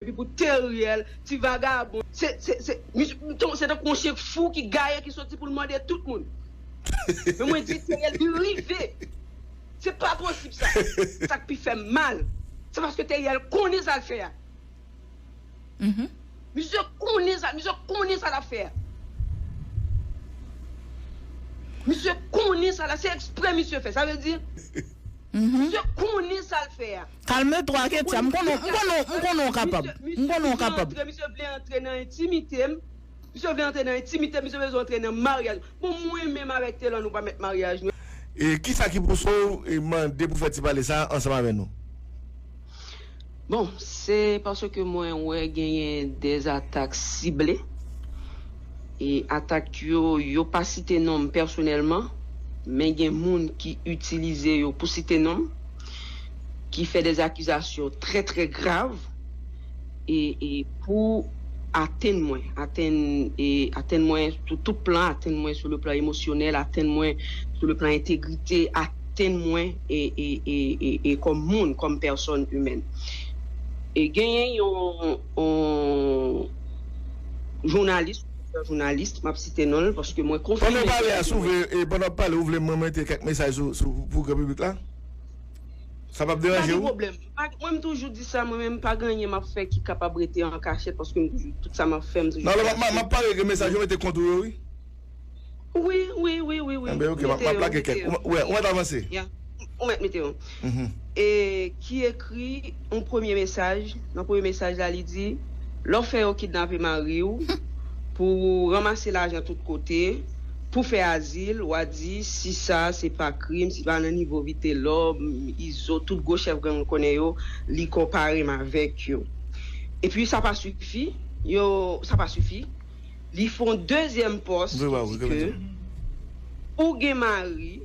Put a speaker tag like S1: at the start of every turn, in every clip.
S1: Epi pou Theriel, ti vagabon, se, se, se, misye, misye se tankou yon chyen fou ki gaye ki soti pou l mòde tout moun. Men mwen di Theriel, li rive! Se pa posib sa! Sa k pi fè m mal, se paske Theriel konnen sa l fè a. Misye konnen sa, misye konnen sa l ap fè a. Misye konnen sa l ap, se ekspre misye fè, sa vle di, misye konnen sa l fè a. Calme toi ketya m
S2: konnen w konnen w m konnen w kapab m konnen w kapab. Misye vle antre nan
S1: entimite m misye vle antre nan entimite m misye bezwen antre nan maryaj m bon mwen menm avèk Telor nou pa mèt maryaj nou. E kisa ki
S3: pouse w mande pou fè ti pale sa ansanm avè nou?
S1: Bon se paske mwen wè genyen de atak sible e atak yo yo pa site non m pèsonèlman men gen moun ki itilize yo pou site non m. ki fè des akizasyon trè trè grav e pou atenn mwen, atenn mwen sou tout plan, atenn mwen sou le plan emosyonèl, atenn mwen sou le plan entegrite, atenn mwen e kòm moun, kòm pèsòn imèn. E genyen yon jounalis, jounalis, m ap site non l paske mwen konfime. Pandan w pale a, si w vle,
S3: pandan w ap pale ou vle mwen mete kèk mesaj sou pou gran piblik la? Sa pap deranje ou? Pa gen pwoblèm. Mwen m
S1: toujou di sa mwen menm, pa gen anyen m ap fè ki kapab rete an kachèt paske m toujou, tout sa m ap fè m toujou fè aswè. M ap pare gen
S3: mesaj yo mete kont ou yo wi. Wi, wi, wi, wi, wi. Enben ok, m ap lage kèk. Ou mèt avanse. Ya. Ou mèt mete
S1: yo. E ki. ekri yon premye mesaj, nan premye mesaj la li di, lè w fè yo kidnape mari w pou w ranmase lajan tout kote pou w fè azil, w a di si sa se pa krim, si pa nan nivo Vitelòm, Izo, tout gwo chèf gang nou konnen yo, li konpare m avèk yo. Epi sa pa sifi, yo, sa pa sifi, li fè yon dezyèm pòs ki di ke ou gen mari,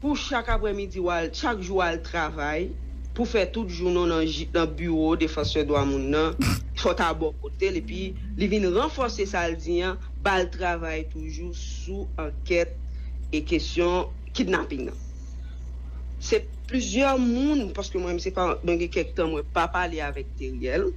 S1: Pou chak aprè midi wa l chak jou al travay pou fè tout jounen w nan nan biwo defansè dwa moun nan fò ta bò kote l epi li vin ranfòse sa l di an ba l travay toujou sou ankèt e kesyon kidnaping nan se plizyè moun paske mwen menm se pa mwen gen kèk tan mwen pa pale avèk Teriel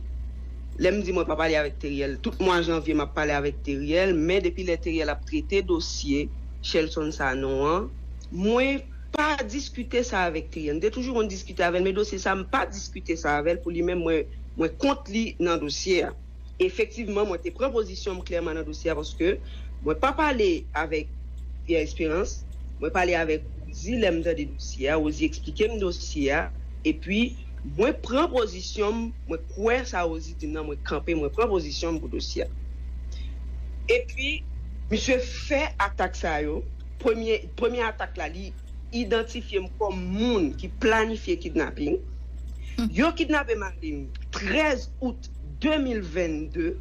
S1: lè m di mwen pa pale avèk Teriel tout mwa janvye m ap pale avèk Teriel men depi lè Teriel ap trete dosye. Shelton Sanon an. Mwen pa diskite sa avèk kliyan. M te toujou konn diskite avè l men dosye sa m pa diskite sa avè l pou li menm mwen kont li nan dosye a. Efektivman mwen te pran pozisyon m klèman nan dosye a paske mwen pa pale avèk Pierre Esperance, mwen pale avèk Rosie lè m tande dosye a, Rosie eksplike m dosye a epi. Mwen pran pozisyon m, mwen kwè sa Rosie di m nan, mwen kanpe, mwen pran pozisyon m pou dosye a. Epi, misye fè atak sa yo, premye, premye atak la li idantifye m kòm moun ki planifye kidnaping. Yo kidnape mari m 13 out 2022.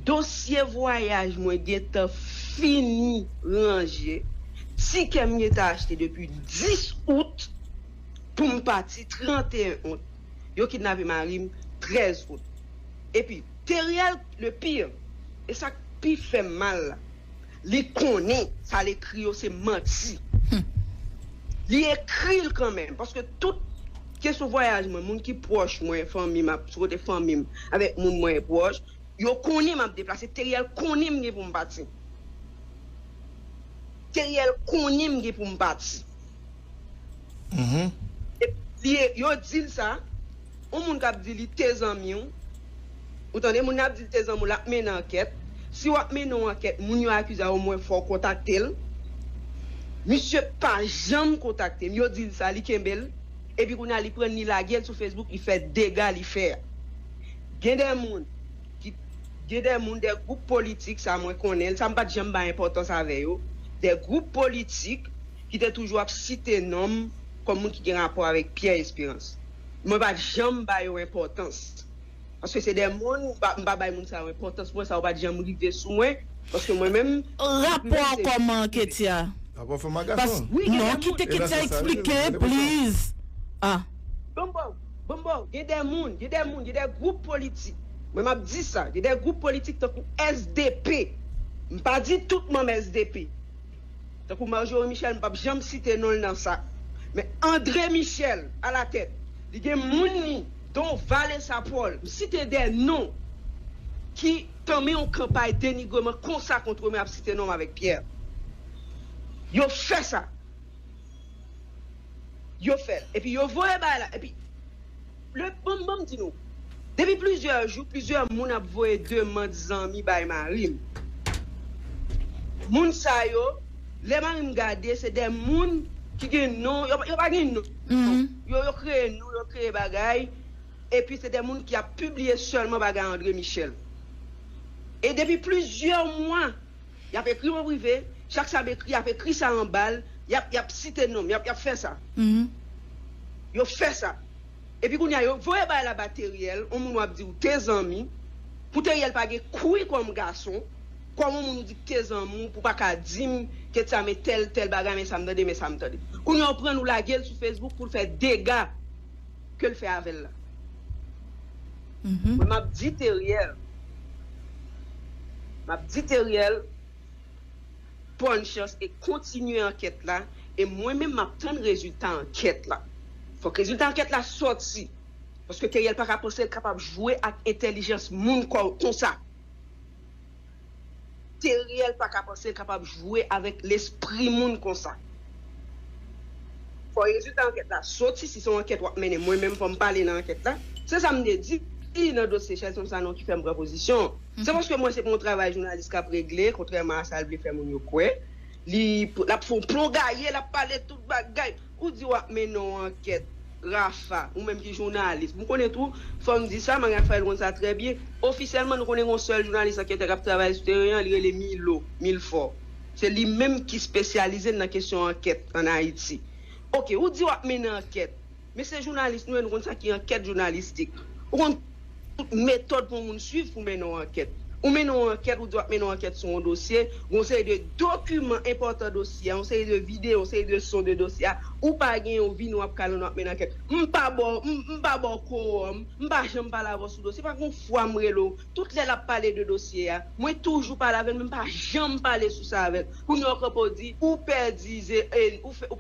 S1: Dosye vwayaj mwen gentan fini ranje, tikè m gentan achte depi 10 out. poum pati 31 out yo kidnape marim 13 out epi Theriel le pire e sak pi fèm mal la li konnen sal ekri yo se manti humm li ekril kanmenm paske tout kesyon vwayaj mwen moun ki pwòch mwen fanmim ap sou kote fanmim avèk moun mwen pwòch yo konnen map deplase Theriel konnen mgen poum pati Theriel konnen mgen poum pati. Epi yo di l sa, yon moun k ap di li te zanmi w, ou tande, moun nan ap di l te zanmi w, l ap mennen ankèt. Si w ap mennen yon ankèt, moun yo akize a omwen fò w kontakte l. Misye pa janm kontakte m. Yo di l sa, li kenbe l. Epi kounye a li pran l li lage l sou Facebook, li fè dega li fè a. Gen de moun ki, gen de moun, de gwoup politik, sa mwen konnen l, sa m pa t janm bay enpòtans avè yo, de gwoup politik, ki te toujou ap site non m kòm moun ki gen rapò avèk Pierre Espérance. Mwen pa t janm ba yo enpòtans. Paske se de moun, m pa bay moun sa yo enpòtans. Mwen sa yo pa t janm rive sou mwen. Paske mwen menm, tout moun
S2: se jan yo rive. Rapò fanm ak gason?
S3: Wi, gen de moun. Enan
S2: se sa wi, mwen te pran sa.
S1: Bon m ba w, bon m ba w. Gen de moun, gen de moun, gen de gwoup politik. Mwen m ap di sa. Gen de gwoup politik tankou SDP. M pa di tout manm SDP. Tankou Marjorie Michel m pap janm site non l nan sa men André Michel a la tèt li gen moun li don Valessa Paul m site 2 non ki tanmen yon kanpay denigreman konsa kontre mwen ap site non m avèk Pierre yo fè sa yo fè l epi yo voye bay la epi Le banm banm di nou. Depi plizyè jou plizyè moun ap voye demand zanmi bay marim. Moun sa yo lè marim gade se de moun ki gen non yo pa gen non yo yo kreye non yo kreye bagay epi se de moun ki ap pibliye sèlman bagay André Michel. E depi plizyè mwa. Y ap ekri m an prive, chak sa m ekri y ap ekri sa anba l, y ap y ap site non m, y ap y ap fè sa. Yo fè sa. Epi kounye a yo voye bagay la ba Teriel, yon moun w ap di ou te zanmi, pou Teriel pa gen kwi kòm gason, kòm yon moun ou di k te zanmi w pou pa ka di m ke t sa men tèl tèl bagay men sa m tande men sa m tande. Kounye a yo pran l ou lage l sou Facebook pou l fè dega. kel fè avèl la. Mwen map di Teriel map di Teriel bòn chans e kontinye ankèt la e mwen menm map tann rezilta ankèt la fòk rezilta ankèt la sòti paske Teriel paka panse l kapab jwe ak entèlijans moun konsa. Teriel paka panse l kapab jwe avèk lespri moun konsa. Fò rezilta ankèt la soti si se yon ankèt wap mennen mwen menm fò m pale nan ankèt la. Se sa m te di nan dosye Shelton Sanon ki fè m pran pozisyon an. Se paske m wè se pa yon travay jounalis kap regle kontrèman a sa l vle fè moun yo kwè. Li lap fè yon plon gaye lap pale tout bagay. Ou di wap mennen yon ankèt Rapha, ou menm ki jounalis. M konnen tou, fò m di sa, Marie Raphaëlle konn sa trè byen, ofisyèlman nou konnen gen yon sèl jounalis anketè kap travay sou teren an, li rele Milo, Milfort. Se li menm ki spesyalize nan kesyon ankèt an Ayiti. Ok, ou di wap mennen ankèt, men se jounalis nou ye, nou konn sa ki ankèt jounalistik. Ou konn. Metòd pou yon moun suiv pou mennen yon ankèt. Ou mennen yon ankèt, ou di w ap mennen yon ankèt sou yon dosye, gen yon seri de dokiman enpòtan dosye a, yon seri de videyo, yon seri de son de dosye a, ou pa genyen ou vini w ap kale w nan w ap mennen ankèt. M pa ba w, m pa ba w kowòm, m pa janm pale avè w sou dosye, pa gen yon fwa m rele w, tout lè l ap pale de dosye a, mwen toujou pale avè l men m pa janm pale sou sa avè l. Kounye a ou kanpe w di ou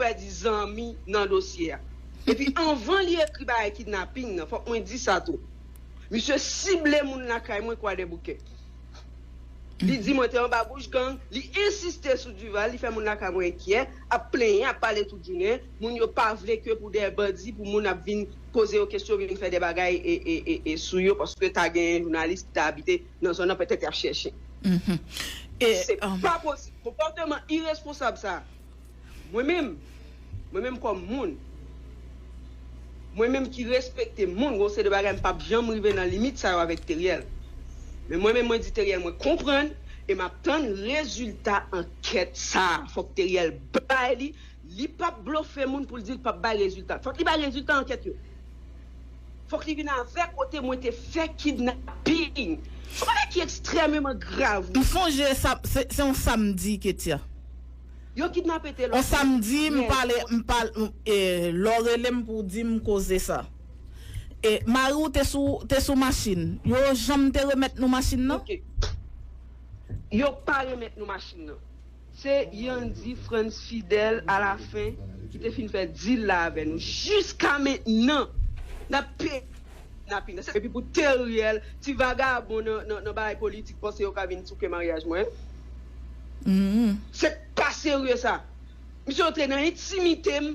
S1: pèdi zanmi nan dosye a. Epi anvan li ekri bagay kidnaping nan fòk mwen di sa tou. Misye sible moun lakay mwen kwadèboukè. Li di mwen te anba bouch gang, li ensiste sou Duval, li fè moun lakay mwen enkyè, ap plenyen, ap pale tout jounen, moun yo pa vle ke pou dè bandi pou moun ap vin poze yo kesyon, vin fè dè bagay sou yo paske ta gen jounalis ki ta abite nan zòn nan petèt yap chèche. Se pa posib. Konpòteman iresponsab sa. Mwen menm, mwen menm kòm moun, mwen menm ki respekte moun, gen yon seri de bagay m pap janm rive nan limit sa yo avèk Theriel. Men mwen menm mwen di Theriel mwen konprann e m ap tann rezilta ankèt sa a. Fòk Theriel bay li, li pap blofe moun pou l di l pap bay rezilta. Fòk li bay rezilta ankèt yo. Fok li vin avè kote mwen te fè kidnapping. Son bagay ki extrèmeman grav wi. M sonje sa,
S2: se on samdi Ketya. Yo
S1: kidnape Telor On samdi m
S2: pale, m pale, e lè w rele m pou w di m koze sa. E mari w te sou, te sou machin. Yo janm te remèt nou machin nan? Ok.
S1: Yo pa remèt nou machin nan. Se Yandi Frantz Fidel a la fin ki te fin fè deal la avè nou. Jiska mentnan nap peye pou kidnapping nan. Epi pou Theriel, ti vagabon nan bagay politik panse yo ka vin souke maryaj mwen. Se pa serye sa. Misye antre nan intimitem.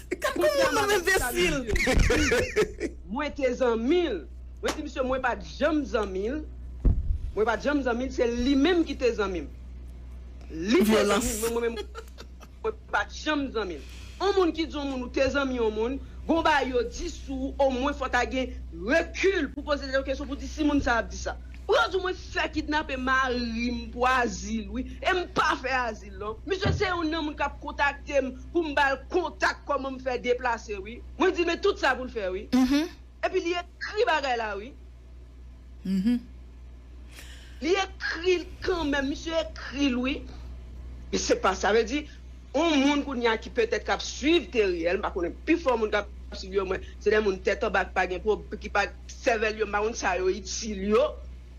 S2: Gad Pou kouman nou travay sa li enbesil. dil Wi
S1: mwen te zanmil Mwen di misye mwen pat janm zanmil Mwen pat janm zanmil se li menm ki te zanmim Li te Vyolans. zanmil men mwen menm mwen pat janm zanmil On moun ki di on moun ou te zanmi on moun Gon bagay yo di sou ou o mwen fò ta gen rekil pou poze tèt ou kesyon pou di si moun sa ap di sa Bro di w mwen fè kidnape marim pou azil wi em pa fè azil non Misye se youn nan moun kap kontaktem pou m ba l kontak kòman m fè deplase wi. Mwen di l men tout sa pou l fè wi. Epi li ekri bagay la wi. Li ekri l kanmenm. Misye ekri l wi. Men se pa sa. Sa vle di yon moun kounye a ki petèt k ap suiv Teriel, m pa konnen pifò moun k ap suiv yo mwen se de moun tèt anba ki pa gen pwob, ki pa sèvèl yo m pa konn sa yo itil yo.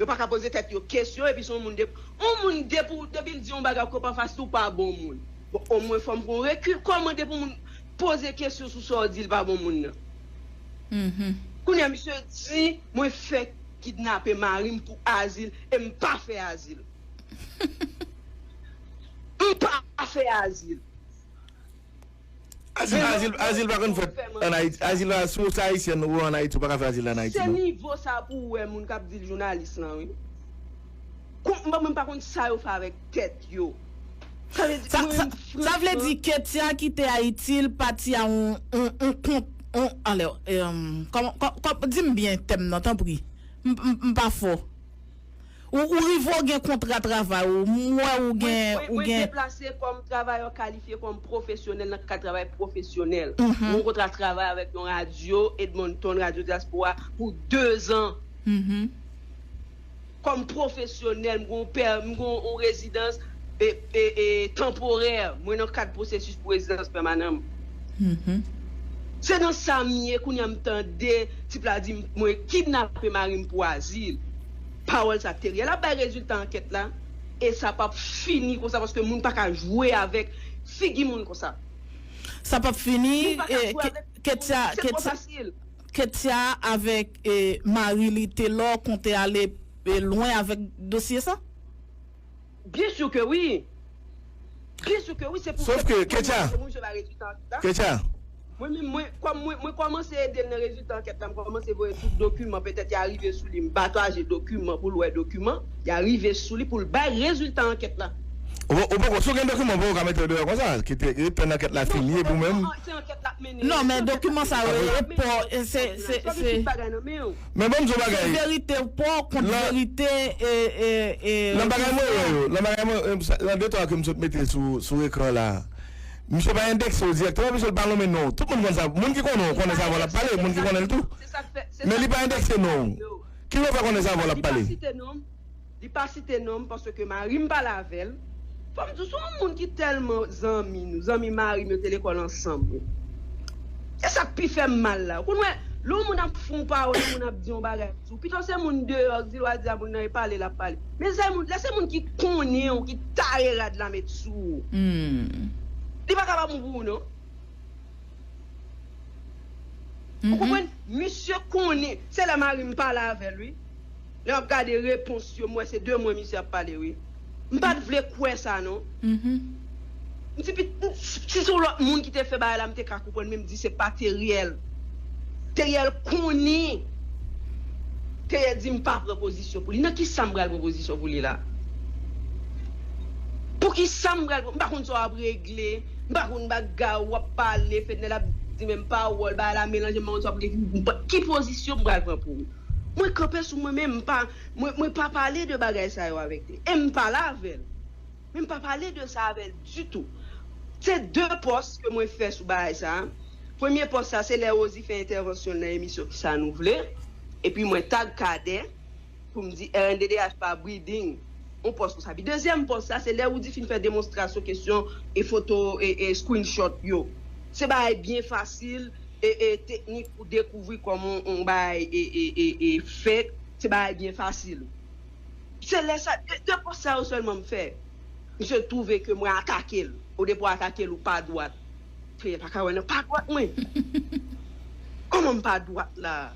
S1: Yo pa ka poze tèt yo kesyon epi se yon moun de yon moun depi depi l di yon bagay ou kope anfas li ou pa bon moun. Bon o mwen fom pran rekil komante pou moun poze kesyon sou sa w di l pa bon moun nan. Kounya misye di mwen fek kidnape mari m pou azil e m pa fe azil. M pa fe azil.
S3: Azil azil pa konn fet an ayiti azil la si w se ayisyen ou an ayiti ou pa ka fe azil la an ayiti non. Se nivo sa
S1: pou
S3: w
S1: we moun kap di l jounalis lan wi. Kont mwen mwen pa konn sa yo fè avèk tèt yo.
S2: Sa vle di mwen menm franchman. Sa vle di Ketya kite Ayiti l pati a on on kont on anlè kòman di m byen tèm nan tanpri m pa fò ou rive ou gen kontra travay ou m wè ou gen ou gen. Mwen deplase kòm
S1: travayè kalifye kòm pwofesyonèl nan kad travay pwofesyonèl m gen yon kontra travay avèk yon radyo Edmonton radyo dyaspora pou dezan. Kòm pwofesyonèl, m gen yon rezidans tanporè, mwen nan kad pwosesis pou rezidans pèmanan m. Se nan sa m ye, kounye a m tande tip la di m mwen kidnape mari m pou azil. Pawòl sa te reyèl. Ap bay rezilta ankèt la e sa p ap fini konsa paske moun pa ka jwe avèk figi moun konsa. Sa p ap
S2: fini. Moun pa ka jwe avèk figi moun. Se twò fasil. Kettia avek mari li telor kon te ale lwen avek dosye sa?
S1: Byen sur ke wi Byen sur ke wi se pou Sof ke Kettia
S3: Kettia
S1: Mwen menm mwen kom mwen mwen komanse edel nan rezilta anket la m komanse voye tout dokiman petet ya rive sou li m pataje dokiman pou l wè dokiman ya rive sou li pou l bay rezilta anket la. Ou poko si
S3: w gen dokiman ou poko ka mete yo deyò konsa ret tann anket la fini epi ou menm. Non men
S2: dokiman sa yo e paw e
S3: se se se. Men banm di w bagay. Se verite w paw kont
S2: verite e e
S3: e. Nan bagay mwen wè yo nan bagay mwen nan de twa ke m sot mete sou sou ekran la misye pa endekse yo dirèkteman piske l pa nonmen non w tout moun konn sa moun ki konnen w konnen sa avan l ap pale moun ki konnen l tou men li pa endekse non w kijan w fè konnen sa avan w ap pale. Li pa
S1: site nom m paske mari m pale avè l. Fò m di w se yon moun ki tèlman zanmi nou, zanmi mari m yo te lekòl ansanm wi. Se sa k pi fè m mal la. Ou konn wè lè yon moun ap fè yon pawòl, yon moun ap di yon bagay sou w, pito se moun deyò k di l w a di a moun nan e pale l ap pale. Men zè moun, lè se moun ki konnen w ki tare rad la met sou w, li pa ka pa bon pou ou non. Ou konprann? Misye konnen, se lè mari m pale avè l wi. Lè map gade repons yo m wè se de mwen misye ap pale wi. M pat vle kwè sa non. M di pi si se yon lòt moun ki te fè bagay la m te ka konprann men m di se pa Theriel. Theriel konin. Theriel di m pa pran pozisyon pou li. Nan kisa m pral pran pozisyon pou li la? Pou kisa m pral pran m pa konn sa w ap regle. M pa konn bagay ou ap pale Fednel ap di menm pawòl bagay la melanje m pa konn sa w ap regle. Ki pozisyon m pral pran pou ou? Mwen kanpe sou mwen menm mpa mwen pa pale de bagay sa yo avèk li em pa la avèl men mpa pale de sa avèl ditou se de pòs ke mwen fè sou bagay sa premye pòs sa se lè Rosie fè entèvansyon l nan emisyon ki sa nou vle epi mwen tag Cadet pou m di rnddh pa briding yon pòs konsa epi dezyèm pòs sa se lè Roody fin fè demonstrasyon kesyon e foto e screenshot yo se bagay byen fasil. Teknik pou dekouvri kòman yon bagay fèt, se bagay byen fasil. Se lè sa, 2 pòs sa yo sèlman m fè, misye twouve ke mwen atake l. O depi w atake l, ou pa dwat. Kliyè pa ka wè nan pa dwat mwen. Kòman m pa dwat la a?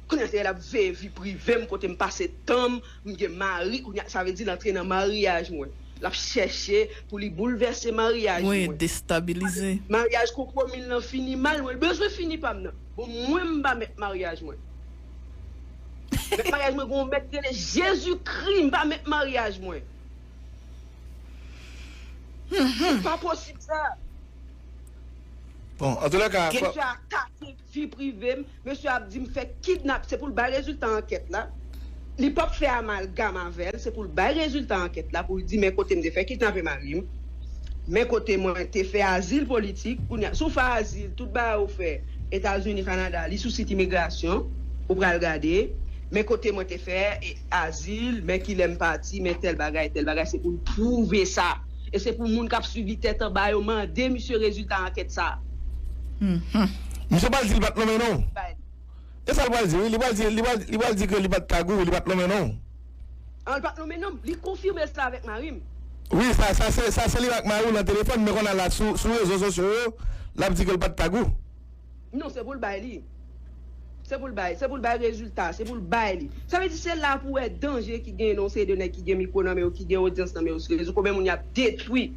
S1: Kounya se lap veye vi privem kotem pase tanm m gen mari kounya sa vle di l antre nan maryaj mwen lap chèche pou li boulvèse maryaj Mwen mwen destabilize.
S2: maryaj kokomil
S1: lan fini mal mwen bezwen fini pam nan bon mwen m pa mèt maryaj mwen mèt maryaj mwen gen yon mèt ki rele jezikri m pa mèt maryaj mwen se pa posib sa.
S3: Bon antoulèka Gen kò. fè atake.
S1: Vi prive m, mesye ap di m fè kidnap se pou l bay rezilta ankèt la, li p ap fè amalgam avè l, se pou l bay rezilta ankèt la pou l di men kote m te fè kidnape mari m, men kote mwen te fè azil politik, kounye a si w fè azil tout bagay ou fè Etazini, Kanada li sou sit imigrasyon ou pral gade men kote mwen te fè azil, men kilè m pati, men tèl bagay, tèl bagay se pou l pwouve sa. e se pou moun kap swivi tèt anba yo mande misye rezilta ankèt sa a.
S3: Misye pral di li pat lonmen non. E sa l pral di wi, li pral di li pral di ke li pat kagou wi, li pat lonmen non. An li pat
S1: lonmen non, li konfime sa avèk mari m. Wi sa
S3: sa se li ak mari w lan telefòn men konnya la sou rezo sosyo yo lap di ke l pat kagou. Non se
S1: pou l bay li. Se pou l bay, se pou l bay rezilta, se pou l bay li. Sa vle di se la pou wè danje ki genyen nan yon seri de nèg ki gen mikwo nan men yo, ki gen odyans nan men yo sou rezo, konbyen moun y ap detwi.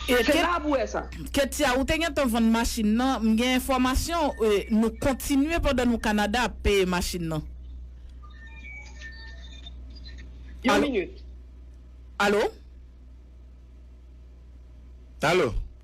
S1: Se la pou wè sa. Ketya, ou te gentan
S2: vann machin nan, m gen enfòmasyon nou kontinye pandan nou Kanada ap peye machin nan.
S1: Yon minit. Alo?
S3: Alo?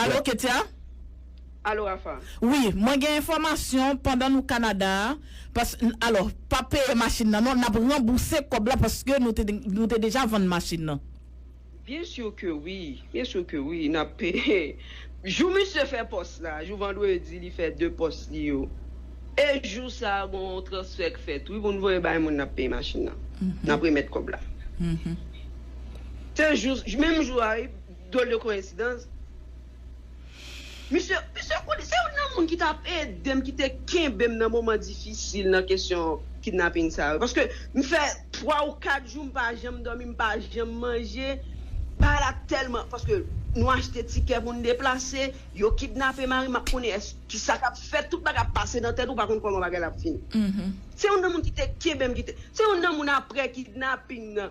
S2: Alo Ketia? Alo
S1: Rapha? Wi, mwen gen
S2: enfòmasyon pandan nou Kanada a, pas, n, alò, pa peye machin nan non, n ap ranbouse kòb la paske nou te, nou te deja vann machin nan. Byen sur
S1: ke wi, byen sur ke wi, n ap peye jou misye fè pòs la, jou vandredi li fè 2 pòs li yo, e jou sa a gon yon transfè k fèt wi pou n voye bay moun n ap peye machin nan, n ap remèt kòb la. Se jou, menm jou a wi. Dwòl de koyensidans. Misye, misye konnen, se youn nan moun ki tap ede m, ki te kenbe m nan moman difisil nan kesyon kidnaping sa yo. Paske m fè 3 ou 4 jou m pa janm dòmi, m pa janm manje. Bagay la tèlman, paske nou achte tikè pou n deplase, yo kidnape mari m, m ap konnen èske, ki sa k ap fèt, tout bagay ap pase nan tèt ou, ou pa konn kòman bagay la ap fini. Se youn nan moun ki te kenbe m, ki te, se youn nan moun aprè kidnaping nan,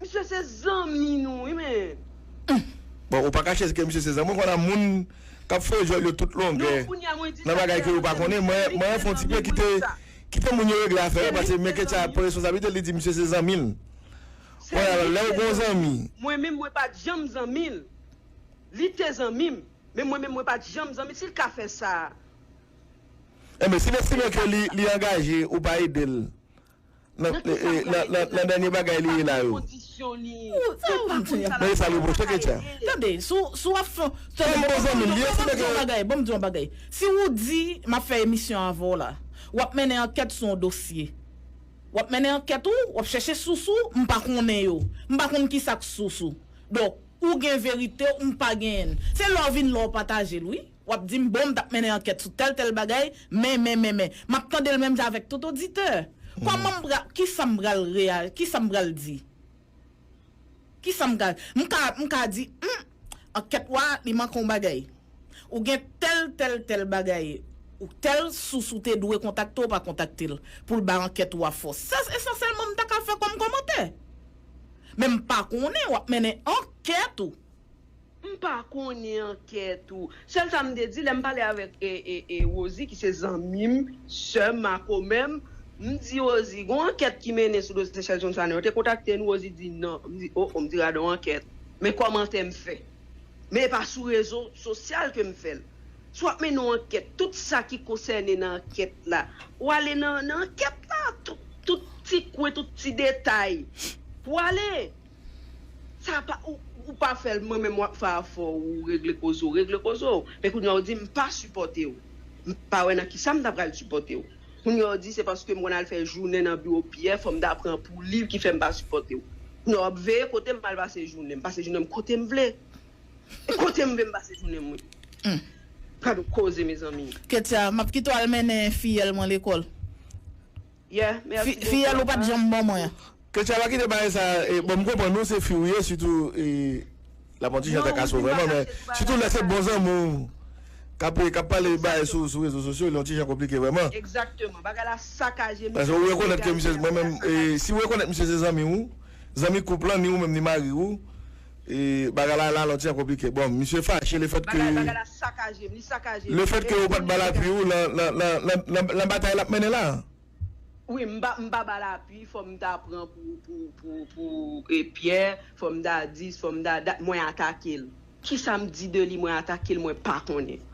S1: Misye se zanmi nou wi men. Bon
S3: ou pa kache se ke misye se zanmi mwen konn a moun kap fè jwèl yo tout longè nan bagay ke yo pa konnen mwen fon ti pe kite kite moun yo regle afè yo paske men ketcha pran responsabilite l li di misye se zanmi l konn a lè ou gon zanmi Mwen menm mwen pat
S1: janm zanmi l li te zanmi m men mwen menm mwen pat janm zanmi l si l ka fè sa.
S3: Enben si l estime ke li angaje ou pa ede l Nan ki sa ou pale Ketya nan dènye bagay li ye la yo. Sa ou vin di a. Tande sa li reproche Ketya. Tande, si w
S2: ap fè. Sa li bon zanmi l ye, se nèg yo. Bon m di w yon bagay. Si ou di m ap fè emisyon avè w la, w ap mennen ankèt sou yon dosye. W ap mennen ankèt ou, w ap chèche sous ou, m pa konnen yo. M pa konn ki sa k sous ou. Donk, ou gen verite ou, m pa genyen l. Se lè w vin la w pataje l wi. W ap di m, bon, m t ap mennen ankèt sou tèl tèl bagay, men, men, men, men. M ap tande l menm jan avèk tout oditè. Kòman m pral, ki sa m pral reya, ki sa m pral di? Ki sa m ka, m ka, m ka di, hum, ankèt ou a, li manke yon bagay. Ou gen tèl, tèl, tèl bagay, ou tèl sous ou te dwe kontakte ou pa kontakte l, pou l bay ankèt ou a fòs. Sa esansyèlman m ta ka fè kòm kòmantè. Men m pa konnen, w ap mennen ankèt ou. M pa
S1: konnen ankèt ou. Sèl sa m te di lè m pale avèk Rosie ki se zanmi m, sè m, makomè m, m di Rosie gon ankèt ki mennen sou dosye Sèl Johnson yo te kontakte nou Rosie di nan, m di o o m di gadon ankèt men kòmantè m fè men e pa sou rezo sosyal ke m fè l si w ap mennen yon ankèt tout sa ki konsène nan ankèt la ou ale nan ankèt la tout ti kwen tout ti detay pou ale. Sa pa ou pa fèl mwen menm wap fè afè w ou regle koze w regle koze w men kounya w di m pa sipòte w m pa wè nan kisa m ta pral sipòte w kounya w di se paske m konn al fè jounen nan biwo Pyè fò m ta pran pou li ki fè m pa sipòte w kounya wap veye kote m al pase jounen m pase jounen m kote m vle e kote m vle m pase jounen m wi gad on koze mezanmi. Ketya, map kite w al
S2: mennen fiyèl mwen lekòl. Yeah
S1: merci beaucoup Fiyèl ou pat
S2: janm bon mwen. Ketia pa kite bagay
S3: sa bon m konprann ou se fi ou ye sitou lap yon ti jan trakasew vrèman men sitou lè se bon zanmi w kap kap pale bagay sou rezo sosyo li yon ti jan konplike vrèman
S1: paske ou rekonèt ke
S3: misye mwen menm si ou rekonèt misye se zanmi ou zanmi koup lan ni ou menm ni mari ou Bagay la ralenti an konplike. Bon, misye fache le fèt ke. Bagay bagay la sakaje,
S1: li sakaje. Le fèt ke
S3: ou pat bal apui ou lan batay lap mennen la. Wi, m pa
S1: m pa bal apui, fò m ta pran pou pou pou pou Pyè, fò m ta di, fò m ta dat, mwen atake l. Kisa m di de li mwen atake l mwen pa konnen.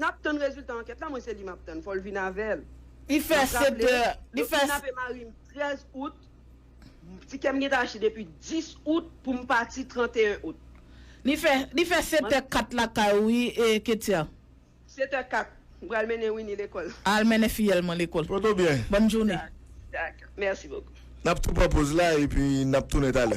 S3: Nap tann
S1: rezilta ankèt la mwen se li map tann fòl vin avèl nap
S2: raple yo kidnape marim 13
S1: out ti kèm gentan achte depi 10 out poum pati 31 out.
S2: Li fè setè kat lakay ou wi ketya. Setè kat
S1: m pral mennen Winnie lekòl. Al mennen fiyèl mwen
S2: lekòl. Poto byen. Bòn jounen. Dakò
S3: mèsi
S4: bokou.
S1: Nap
S3: tou pran poz la epi
S1: nap
S3: tounen talè.